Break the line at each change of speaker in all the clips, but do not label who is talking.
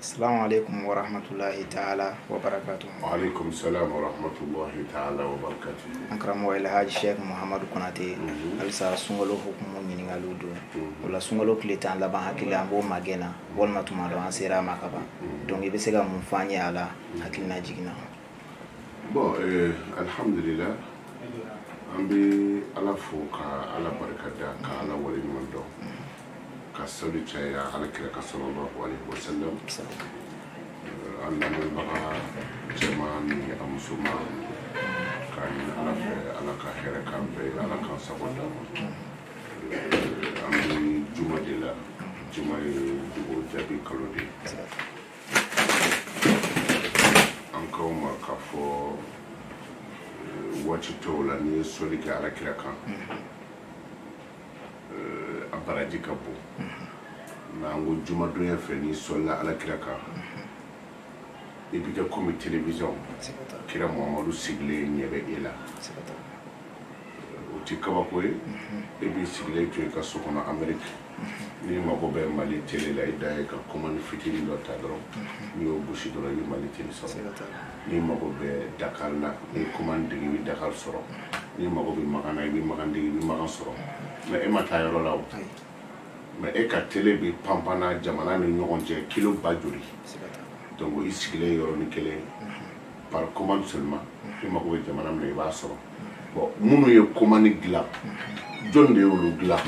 Salamu alaikum wa rahmatulahi ta'ala wa barakatu. Wa alaikum
salam wa rahmatulahi ta'ala wa barakatu. An karamɔgɔ Alhaji
Sheikh Muhammadu Konate mhm. halisa sunkalo hukumu ɲininkaliw don mhm. o la sunkalo tile tan laban hakili la an b'o magɛn na walima tuma dɔ an sera a ma kaban mhm. donc i bɛ se ka mun fɔ an ye a la hakilina jigin na.
bon euh, alhamdulila an bɛ ala fo ka ala barika da ka ala wale ɲuman dɔn ka sali caya ala kira kan sallallahu alaihi wasallam an lamɛnbaga cɛman ni a musoman k'a ɲini ala fɛ ala ka hɛrɛ k'an bɛɛ ye ala k'an sago d'an ma an bɛ juma de la juma ye dugawu jaabi kalo de ye an k'aw ma k'a fɔ waati tɔw la n'i ye sɔli kɛ ala kira kan a baraji ka bon nka an ko jumadonya fɛ n'i sɔlila ala kira kan i bɛ kɛ komi telewisɔn kira muhamadu sigilen ɲɛ bɛ e la o tɛ kabako ye e b'i sigilen to i ka so kɔnɔ ameriki n'i mago bɛ mali tele la i dan ye ka kɔmani fitini dɔ ta dɔrɔn n'i y'o gosi dɔrɔn i bɛ mali tele sɔrɔ n'i mago bɛ dakar la n'i kɔmani digi i bɛ dakar sɔrɔ n'i mago bɛ makan na i bɛ makan digi i bɛ makan sɔrɔ mɛ e ma taa yɔrɔ la o mɛ e ka tele bɛ panpan na jamana ni ɲɔgɔn cɛ kilo ba joli donc i sigilen yɔrɔnin kelen par commande seulement i mago bɛ jamana min na i b'a sɔrɔ minnu ye kɔmani dilan jɔn de y'olu dilan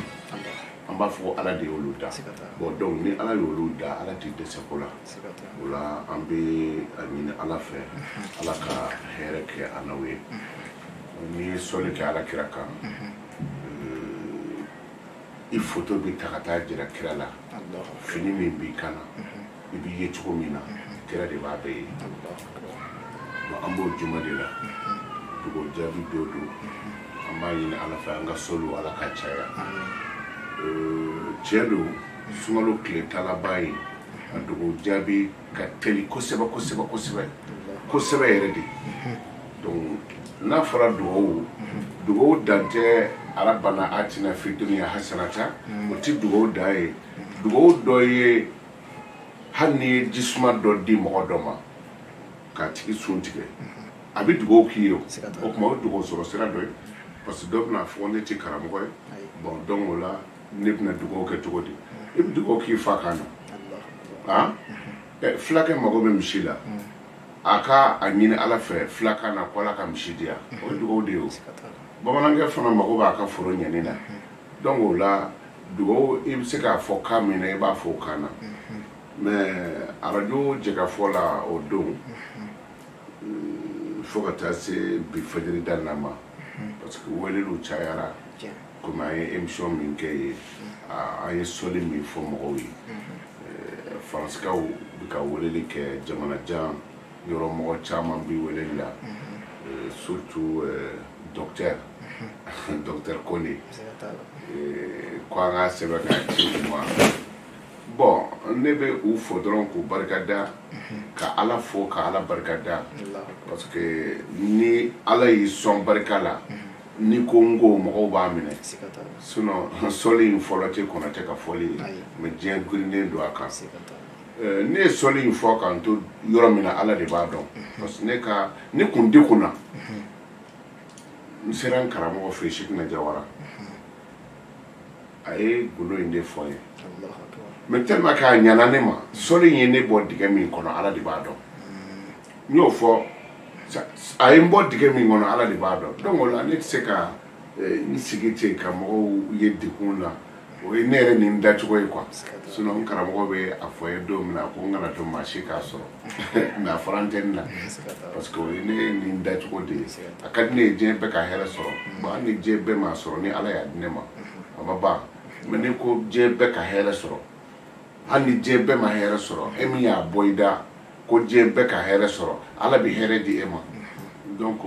an b'a fɔ ko ala de y'olu da bon donc ni ala y'olu da ala tɛ dɛsɛ ko la o la an bɛ a ɲini ala fɛ ala ka hɛrɛ kɛ an n'aw ye n'i ye sɔli kɛ ala kira kan i foto bɛ ta ka taa jira kira la fini min b'i kan na i b'i ye cogo min na kira de b'a bɛɛ ye an b'o juma de la dugawu jaabi don don an b'a ɲini ala fɛ an ka sɔliw ala ka caya tiɲɛ don sunkalo tile tan laban ye a dugawu jaabi ka teli kosɛbɛ kosɛbɛ kosɛbɛ kosɛbɛ yɛrɛ de donc n'a fɔra dugawu dugawu dan tɛ rabana atina fi duniya hasanata o ti dugawu dan ye dugawu dɔ ye hali n'i ye jisuma dɔ di mɔgɔ dɔ ma k'a tigi sun tigɛ a bɛ dugawu k'i ye o o tuma o ye dugawu sɔrɔ sira dɔ ye parce que dɔ bɛna fɔ ne tɛ karamɔgɔ ye bon donc o la ne bɛna dugawu kɛ cogo di i bɛ dugawu k'i fakan na han fulakɛ mago bɛ misi la a ka a ɲini ala fɛ fulakan na ko ala ka misi di yan o ye dugawu de ye o bamanankɛ fana mago b'a ka foro ɲɛni na donc o la dugawu i bɛ se k'a fɔ kan min na i b'a fɔ o kan na mais arajo jɛkafɔ la o don fo ka taa se bi fajiri da na ma parce que weleliw cayara komi an ye émission min kɛ ye an ye sɔli min fɔ mɔgɔw ye faransikaw bɛ ka weleli kɛ jamana jan yɔrɔ mɔgɔ caman bi weleli la euh, surtout euh, docteur mhm. docteur kone euh, ko an ka sɛbɛn ka ci u ma bon ne bɛ u fo dɔrɔn k'u barika da mhm. ka ala fo ka ala barika da parce que ni ala y'i sɔn barika la mhm. ni ko n ko mɔgɔw b'a minɛ sinon sɔli in fɔlɔ tɛ konate ka fɔli ye mais diɲɛ girinnen don a kan Eh, ne ye sɔli in fɔ k'an to yɔrɔ min na ala de b'a dɔn parce que ne ka ne kun degunna n sera n karamɔgɔ fɛ sekina jawara a ye gundo in de fɔ n ye mais tellement que a ɲana ne ma sɔli in ye ne bɔ dingɛ min kɔnɔ ala de b'a dɔn n y'o fɔ a ye n bɔ dingɛ min kɔnɔ ala de b'a dɔn donc o la ne tɛ se ka n sigi ten ka mɔgɔw ye degun na o ye ne yɛrɛ nin dacogo ye quoi sinon n karamɔgɔ bɛ a fɔ ye don min na ko n kana to maa si k'a sɔrɔ mais a fɔra n tɛ n na parce que o ye ne nin dacogo de ye a ka di ne ye diɲɛ bɛɛ ka hɛrɛ sɔrɔ bon hali ni diɲɛ bɛɛ m'a sɔrɔ ni ala y'a di ne ma a ma ban mais n'i ko diɲɛ bɛɛ ka hɛrɛ sɔrɔ hali ni diɲɛ bɛɛ ma hɛrɛ sɔrɔ e min y'a bɔ i da ko diɲɛ bɛɛ ka hɛrɛ sɔrɔ ala bɛ hɛrɛ di e ma donc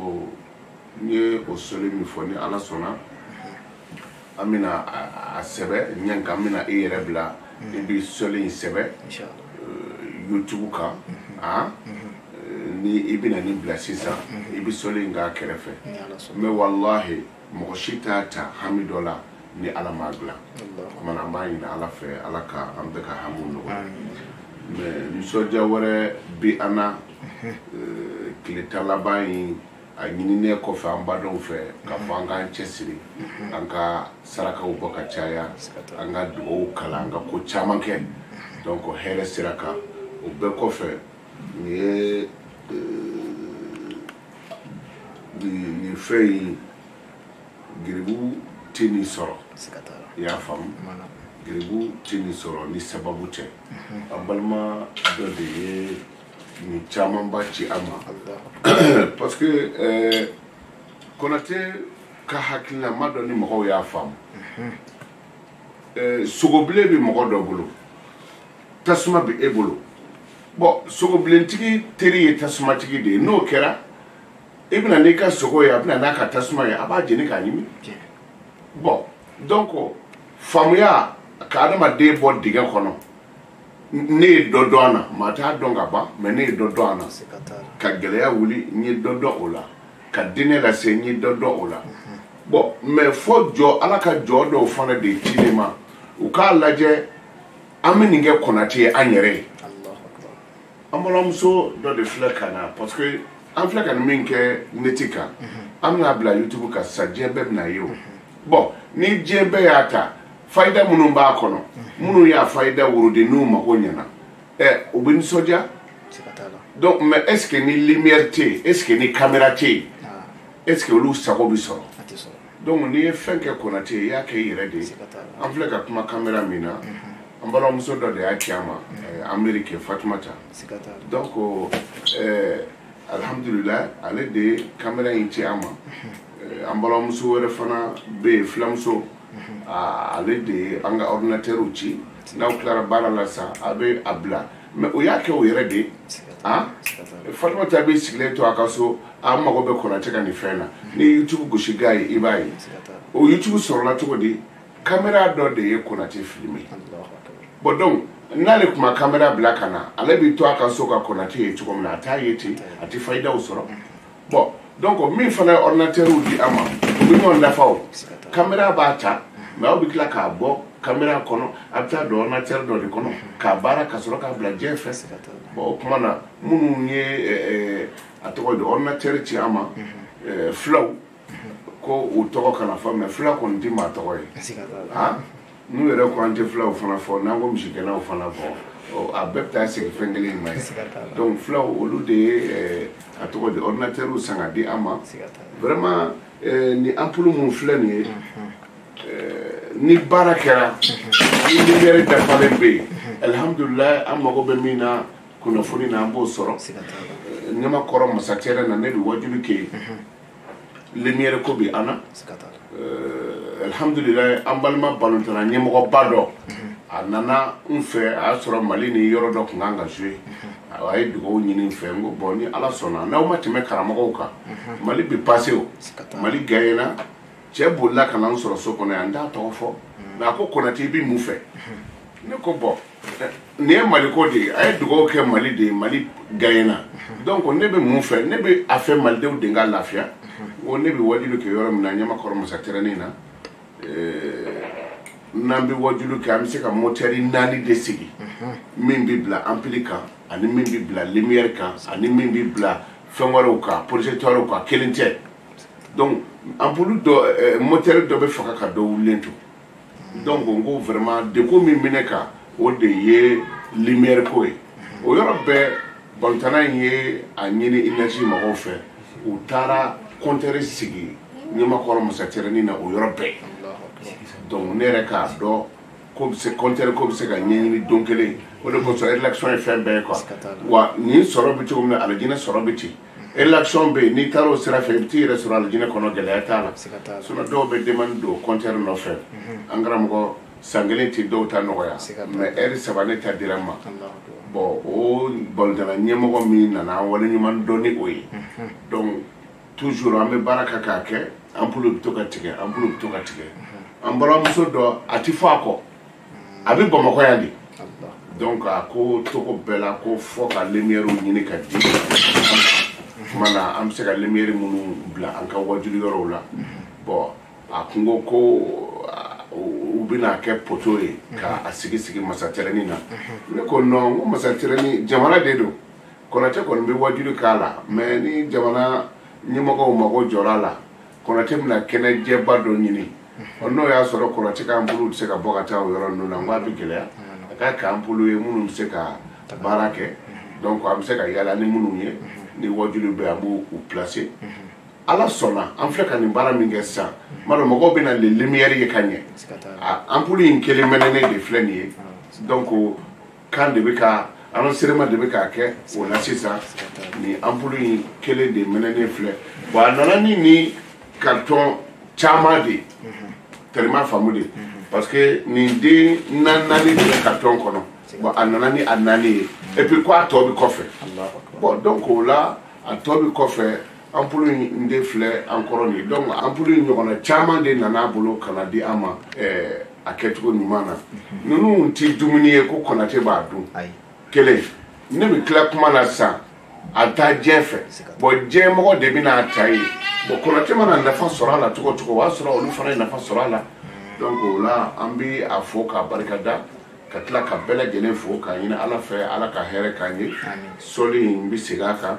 n ye o soli min fɔ ni ala sɔnna an bɛna a sɛbɛ ɲɛ kan an bɛna i yɛrɛ bila i bɛ soli in sɛbɛ youtube kan a ni i bɛna nin bila sisan i bɛ soli in k'a kɛrɛfɛ mais walahi mɔgɔ si t'a ta hami dɔ la ni ala m'a dilan o kama na an b'a ɲini ala fɛ ala ka an bɛɛ ka hamiw nɔgɔya mais nisɔndiya wɛrɛ bi an na tile tan laban in a ɲininen kɔfɛ an badenw fɛ k'a fɔ an k'an cɛsiri an ka sarakaw bɔ ka caya an ka dugawu kalan an ka ko caman kɛ donc hɛrɛ sira kan o bɛɛ kɔfɛ nin ye euh, nin fɛn in garibu tɛ nin sɔrɔ i y'a faamu garibu tɛ nin sɔrɔ ni sababu tɛ an balima dɔ de ye nin camanba ci an ma parce que euh, konate ka hakilina dɔ ni mɔgɔw y'a faamu mhm. euh, sogobilen bɛ mɔgɔ dɔ bolo tasuma bɛ e bolo bon sogobilentigi teri ye tasumatigi de ye n'o kɛra i e bɛna n'i ka sogo ye a bɛna n'a ka tasuma ye a b'a jeni k'a ɲimi bon donc faamuya ka adamaden bɔ dingɛ kɔnɔ ne ye dɔ dɔn a na maa t'a dɔn ka ban mais ne ye dɔ dɔn a na ka gɛlɛya wuli n ye dɔ dɔn o la ka diinɛ lase n ye dɔ dɔn o la bon mais fo jɔn ala ka jɔn dɔw fana de ci ne ma u k'a lajɛ an bɛ nin kɛ konate ye an yɛrɛ ye an balimamuso dɔ de filɛ ka na parce que an filɛ ka nin min kɛ neti kan an bɛn'a bila youtube kan sa diɲɛ bɛɛ bɛn'a ye o bon ni diɲɛ bɛɛ y'a ta fayida minnu b'a kɔnɔ minnu y'a fayida wurudi n'u mago ɲɛna ɛ u bɛ nisɔndiya donc mais est ce que ni lumière tɛ yen est ce que ni caméra tɛ yen ah. est ce que olu sago bɛ sɔrɔ donc n'i ye fɛn kɛ konate ye i y'a kɛ i yɛrɛ de ye an filɛ ka kuma kamera min na an balimamuso dɔ de y'a ci an ma ameriki fatumata donc alihamudulila ale de ye kamera in ci an ma eh, an balimamuso wɛrɛ fana bɛ yen filamuso ah, ale de ye an ka ordinateur ci n'aw tilara baara la sa a bɛ a bila mais o y'a kɛ o yɛrɛ de ye ah? fatumata b'i sigilen to a ka so a mago bɛ konate ka nin fɛn na ni youtube gosi k'a ye i b'a ye o youtube sɔrɔla cogo di kamera dɔ de ye konate filime bon donc n'ale tun ma kamera bila ka na ale bɛ to a ka so ka konate ye cogo min na a t'a ye ten a tɛ fayidaw sɔrɔ bon donc min fana ye ordinateur di an ma u bɛ ɲɔgɔn dafa o kamera b'a ta mais aw bɛ tila k'a bɔ kamera kɔnɔ a bɛ taa don ordinateur dɔ de kɔnɔ k'a baara ka sɔrɔ k'a bila diɲɛ fɛ bon o tuma na minnu ye a tɔgɔ di ordinateur ci an ma fulaw ko u tɔgɔ kana fɔ mais fula kɔni tɛ maa tɔgɔ ye n'u yɛrɛ ko an tɛ fulaw fana fɔ n'an ko misigɛnnaw fana fɔ a bɛɛ bɛ taa sigi fɛn kelen in ma ye donc fulaw olu de ye a tɔgɔ di ordinateur san ka di an ma vraiment ni ampulu minnu filɛ nin ye ni baara kɛra ni lumière dafalen bɛ yen alihamudulilayi an mago bɛ min na kunnafoni na an b'o sɔrɔ ɲamakɔrɔ mosquée yɛrɛ na ne bɛ wajuli kɛ yen lumière ko bi an na alhamdulilayi an balima balontanna ɲɛmɔgɔba dɔ mhm. a nana n fɛ a y'a sɔrɔ mali ni yɔrɔ dɔ tun kan ka jouer mhm. a ye dugawu ɲini n fɛ n ko bon ni ala sɔnna n'aw ma tɛmɛ karamɔgɔw kan mhm. mali bi pase o mali gaɲena cɛ bolila ka na n sɔrɔ so kɔnɔ yan n t'a tɔgɔ fɔ mais a ko konate i bi mun fɛ ne ko bon nin ye mali ko de ye a ye dugawu kɛ mali de ye mali gaɲena donc ne bɛ mun fɛ ne bɛ a fɛ malidenw de ka lafiya o ne bɛ wajuli kɛ yɔrɔ min na ɲamakɔrɔ masatɛrɛnin na n'an bɛ wajuli kɛ an bɛ se ka motɛri naani de sigi min bɛ bila ampili kan ani min bɛ bila limiyɛri kan ani min bɛ bila fɛn wɛrɛw kan projecteurw kan kelen tɛ donc anpulu dɔ motɛri dɔ bɛ faga ka dɔ wulilen to donc n ko vraiment degun min bɛ ne kan o de ye lumière ko ye o yɔrɔ bɛɛ balontanna in ye a ɲini énergie mɔgɔw fɛ u taara compteur sigi ɲamakɔrɔ masatɛrɛni na o yɔrɔ bɛɛ donc ne yɛrɛ k'a dɔn ko bɛ se compteur ko bɛ se ka ɲɛɲini don kelen o de kosɔn relation ye fɛn bɛɛ ye quoi wa nin sɔrɔ bɛ cogo min na alijinɛ sɔrɔ bɛ ten relation bɛ yen n'i taara o sira fɛ i bɛ t'i yɛrɛ sɔrɔ alijinɛ kɔnɔ gɛlɛya t'a la sinon dɔw bɛ demande don compteur nɔfɛ an karamɔgɔ san kelen tɛ dɔw ta nɔgɔya mais heure saba ne ta dira n ma bon o balontanna ɲɛmɔgɔ min nana an waleɲumandɔn ni o ye donc toujours an bɛ baara kɛ k'a kɛ anpulu bɛ to ka tigɛ anpulu bɛ to ka tigɛ an balimamuso dɔ a tɛ fɔ a kɔ a bɛ bamakɔ yan de donc a ko cogo bɛɛ la ko fo ka lumière ɲini ka di tuma na an bɛ se ka lumière minnu bila an ka wajuli yɔrɔw la bon a kun ko ko u bɛna kɛ poto ye ka a sigi sigi masatɛrɛni na ne ko non ko masatɛrɛni jamana de don kɔnate kɔni bɛ wajuli k'a la mais ni jamana ɲɛmɔgɔw mago jɔra a la kɔnate bɛna kɛnɛ jɛba dɔ ɲini ɔ n'o y'a sɔrɔ kɔnate ka anpulu tɛ se ka bɔ ka taa o yɔrɔ ninnu na n k'a bɛ gɛlɛya a k'a kɛ anpulu ye minnu bɛ se ka baara kɛ donc an bɛ se ka yala ni minnu ye ni wajuliw bɛ an b'u placer ala sɔnna an filɛ ka nin baara min kɛ sisan n b'a dɔn mɔgɔw bɛna le lumière ye ka ɲɛ anpulu in kelen mɛnɛnen de filɛ nin ye donc kan de bɛ ka enregistrement de bɛ ka kɛ o la sisan nin ampoule in kelen de mɛnɛnen filɛ bon a nana ni nin carton caman de ye tellement faamu de parce que nin den naani naani de bɛ carton kɔnɔ bon a nana ni a naani ye et puis ko a tɔ bɛ kɔfɛ bon donc o la a tɔ bɛ kɔfɛ anpulu in de filɛ an kɔrɔ nin donc anpulu in ɲɔgɔnna caman de nana bolo ka na di an ma eh, a kɛcogo ɲuman na ninnu tɛ dumuni ye ko kɔnate b'a dun kelen ne bɛ tila kuma na sisan a bɛ taa diɲɛ fɛ bɔn diɲɛmɔgɔ de bɛna ta ye bɔn kɔnate mana nafa sɔrɔ a la cogo cogo o b'a sɔrɔ olu fana ye nafa sɔrɔ a la donc o la an bɛ a fo k'a barika da ka tila ka bɛɛ lajɛlen fo k'a ɲini ala fɛ ala ka hɛrɛ k'an ye sɔɔni n bɛ segin a kan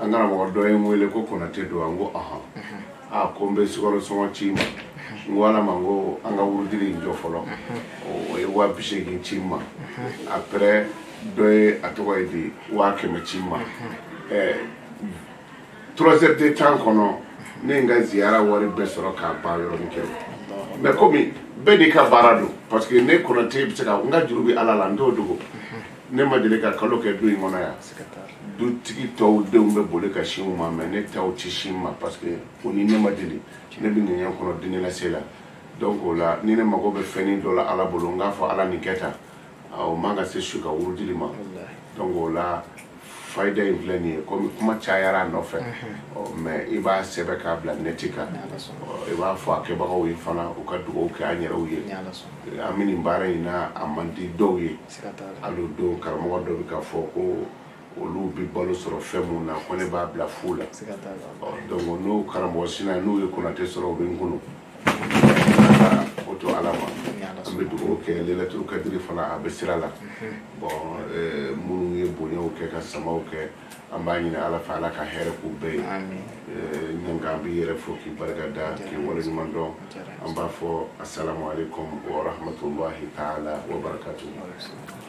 an karamɔgɔ dɔ ye n wele ko konate don an ko ahan a ko n bɛ sukaro sɔngɔ ci i ma n ko ala ma n ko an ka wurudili in jɔ fɔlɔ o ye waa bi seegin ci n ma après dɔ ye a tɔgɔ ye di waa kɛmɛ ci n ma ɛɛ trois heures de temps kɔnɔ ne ye n ka ziyara wari bɛɛ sɔrɔ k'a ban yɔrɔnin kelen mɛ komi bɛɛ n'i ka baara don parce que ne konate bɛ se ka n ka juru bɛ ala la n t'o dogo ne ma deli ka kalo kɛ du in kɔnɔ yan dutigi tɔw denw bɛ boli ka sin u ma mɛ ne taw tɛ sin n ma parce que o ni ne ma deli ne bɛ diɲɛ kɔnɔ diinɛ lase la donc o la ni ne mago bɛ fɛnnin dɔ la ala bolo n k'a fɔ ala nin kɛ tan o man ka se su ka wurudili ma donc o la fayida in filɛ nin ye komi kuma cayara a nɔfɛ mɛ i b'a sɛbɛ k'a bila nɛti kan i b'a fɔ a kɛbagaw ye fana u ka dugawu kɛ an yɛrɛw ye an bɛ nin baara in na a man di dɔw ye hali don karamɔgɔ dɔ bɛ k'a fɔ ko olu bɛ balo sɔrɔ fɛn minnu na ko ne b'a bila fu la donc n'o karamɔgɔ sina n'u ye konate sɔrɔ u bɛ n kunu o to ala ma an bɛ dugawu kɛ lelatul kadiri fana a bɛ sira la bon minnu ye bonyaw kɛ ka samaw kɛ an b'a ɲini ala fɛ ala ka hɛrɛ k'u bɛɛ ye eh, ɲanga an b'i yɛrɛ fo k'i barika da k'i waleɲuman dɔn an b'a fɔ asalamu aleykum wa rahmatulahi taala wa barakatuhu